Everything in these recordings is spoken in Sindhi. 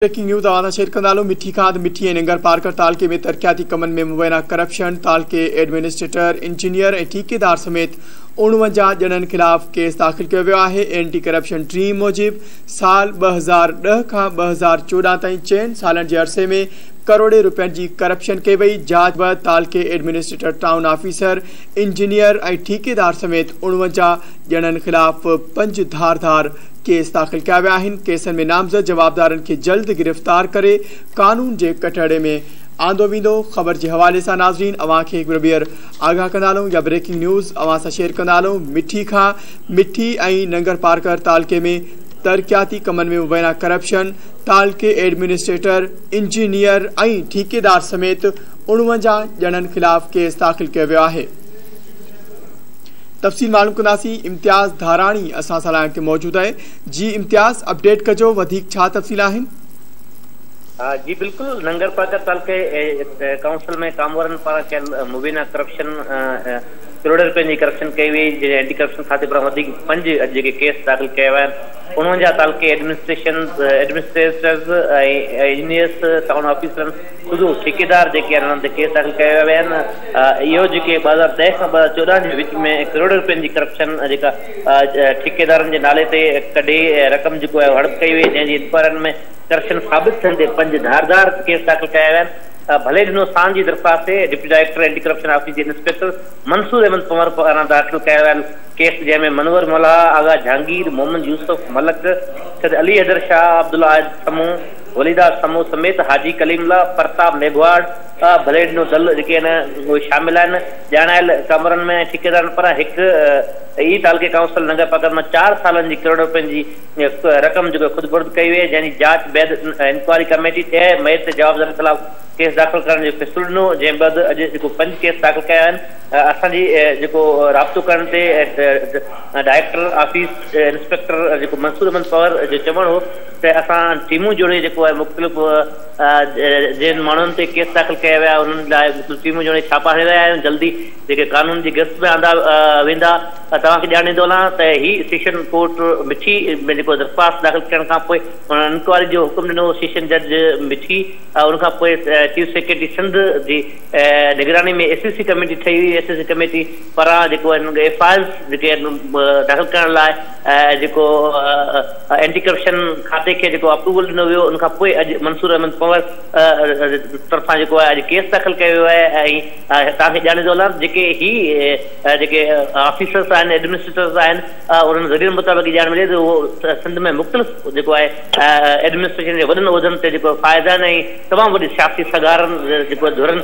بريڪنگ نيوز اوهان سان شيئر ڪندا هلون مٺي کاڌ مٺي ۽ ننگر پارڪر تعلقي ۾ ترقياتي ڪمن ۾ مبينا ڪرپشن تعلقي ايڊمنسٽريٽر انجنيئر ۽ ٺيڪيدار سميت اڻونجاهه ڄڻن خلاف ڪيس داخل ڪيو ويو آهي اينٽي ڪرپشن ٽيم موجب سال ٻه هزار ڏهه کان ٻه هزار چوڏهن تائين چئن سالن جي عرصي ۾ ڪروڙين رپين جي ڪرپشن ڪئي وئي جاچ بعد تعلقي ايڊمنسٽريٽر ٽائون آفيسر انجنيئر ۽ ٺيڪيدار سميت اڻونجاهه ڄڻن خلاف پنج ڌار ڌار ڪيس داخل ڪيا ويا آهن، ڪيسن ۾ نامزد جوابدارن کي جلد گرفتار ڪري قانون جي ڪٽهڙي ۾ آندو ويندو، خبر جي حوالي سان ناظرين اوهان کي هڪ ٻيهر آگاهه ڪندا هلون يا بريڪنگ نيوز اوهان سان شيئر ڪندا هلون مٺي کاء مٺي ۽ ننگر پارڪر تعلقي ۾ ترقياتي ڪمن ۾ مبينا ڪرپشن تعلقي ايڊمنسٽريٽر انجنيئر ۽ ٺيڪيدار سميت اڻونجاهه ڄڻن خلاف ڪيس داخل ڪيو ويو آهي. تفصيل معلوم ڪنداسين امتياز ڌاراڻي اسان سان لائن تي موجود آهي جي امتياز اپڊيٽ ڪجو وڌيڪ ڇا تفصيل آهن. جي بلڪل ننگرپارڪر تعلقي ڪائونسل ۾ ڪامورن پاران ڪيل مبينا ڪرپشن ڪروڙين روپين جي ڪرپشن ڪئي وئي جنهن اينٽي ڪرپشن کاتي پاران وڌيڪ پنج اڄ جيڪي ڪيس داخل ڪيا ويا آهن انهن جا تعلقي ايڊمنسٽريشن ايڊمنسٽريٽرز ۽ انجنيئرس ٽائون آفيسرن خود ٺيڪيدار جيڪي انهن تي ڪيس داخل ڪيا ويا آهن اهو جيڪي ٻه هزار ڏهه کان ٻه هزار چوڏهن جي وچ ۾ ڪروڙين رپين جي ڪرپشن جيڪا ٺيڪيدارن جي نالي تي ڪڍي رقم جيڪو آهي هڙپ ڪئي وئي جنهن جي انڪوائرين ۾ ڪرپشن ثابت ٿيڻ تي پنج ڌار ڌار ڪيس داخل ڪيا ويا آهن ڀلي ڏنو سان جي درخواست تي deputy director anti corruption office جي انسپيڪٽر منصور احمد پنور پاران داخل ڪيا ويل ڪيس جنهن ۾ منور ملاح آغا جهانگير محمد يوسف ملڪ سيد علي حيدر شاهه عبدالله عائد سمون وليداس سمون سميت حاجي ڪليم الله، پرتاب ميگهواڙ، ٻه بليڊ نو دل جيڪي آهن اهي شامل آهن. ڄاڻايل ڪمرن ۾ ٺيڪيدارن پران هڪ ئي تعلقي ڪائونسل ننگر پاڪر مان چار سالن جي ڪروڙ رپين جي رقم جيڪو خود برد ڪئي وئي جنهن جي جاچ بعد انڪوائري ڪميٽي ڏهه مئي تي جوابدارن خلاف ڪيس داخل ڪرڻ جو فيصلو ڏنو جنهن بعد اڄ جيڪو پنج ڪيس داخل ڪيا آهن اسان جي جيڪو رابطو ڪرڻ تي ڊائريڪٽر آفيس انسپيڪٽر جيڪو منصور احمد پنور جو چوڻ هو تي اسان ٽيمون جوڙي جيڪو آهي مختلف جن ماڻهن تي ڪيس داخل ڪيا ويا انهن لاء مختلف ٽيمون جوڙي ڇاپا هڻي رهيا آهيون جلدي جيڪي قانون جي گرفت ۾ آندا ويندا توهان کي ڄاڻيندو هلان ته هي سيشن ڪورٽ مٺي ۾ جيڪو درخواست داخل ڪرڻ کان پوء انهن انڪوائري جو حڪم ڏنو هو سيشن جج مٺي ان کان پوء چيف سيڪريٽري سنڌ جي نگراني ۾ ايس اي سي ڪميٽي ٺهي هئي ايس اي سي ڪميٽي پران جيڪو آهن ايف آء آرز جيڪي آهن داخل ڪرڻ لاء جيڪو اينٽي ڪرپشن کاتي کي جيڪو اپروول ڏنو ويو ان کان پوء اڄ منصور احمد پنور طرفان جيڪو آهي اڄ ڪيس داخل ڪيو ويو آهي ۽ توهان کي ڄاڻي ٿو هلان جيڪي هي جيڪي آفيسرس آهن ايڊمنسٽريٽرس آهن انهن ذريعن مطابق ڄاڻ ملي ته اهو سنڌ ۾ مختلف جيڪو آهي ايڊمنسٽريشن جي وڏن عهدن تي جيڪو فائز آهن ۽ تمام وڏي سياسي سگهارن جيڪو ڌرن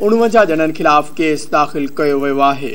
اڻونجاهه ڄڻن خلاف ڪيس داخل ڪيو ويو آهي.